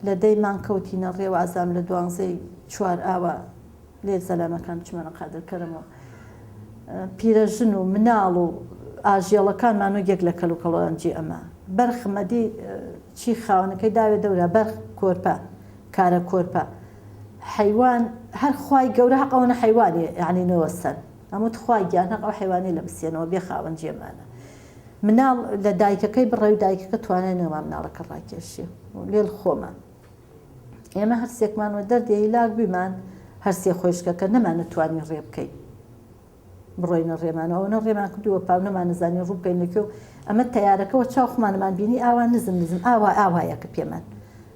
لە دەی مانگ کەوتینە ڕێ وازام لە دوانزەی چوار ئاوا لێ زەلامەکان چمەنە قادر کەرەم و پیرەژن و مناڵ و ئاژێڵەکان مانوگێک لە کەل و کەڵۆان جێ ئەما بەرخ مەدی چی خاوەنەکەی داوێ دەورا بەرخ کۆرپە کارە کۆرپە حیوان هەر خوای گەورە هەق ئەوەنە حیوانێ یعنی نەوە سەر ئەموت خوای گیان هەق ئەو حیوانێ لە بسێنەوە بێ خاوەن جێمانە مناڵ لە دایکەکەی بڕێ و دایکەکە توانای نەما مناڵەکە ڕاکێشێ و لێڵ خۆمە. ئێمە هەر سێکمان وە دەردی هیلاک بوویمان، هەر سێ خۆیشکەکە، نەمانەتوانی ڕێ بکەین بڕۆینە ڕێمان و ئەوەنە ڕێمان کردو وە پاو نەمانەزانی ڕوو بکەین لە کوێ و ئەمە تەیارەکە وە چاو خۆمانمان بینی ئاوا نزم نزم ئاوا ئاوایەکە پێمان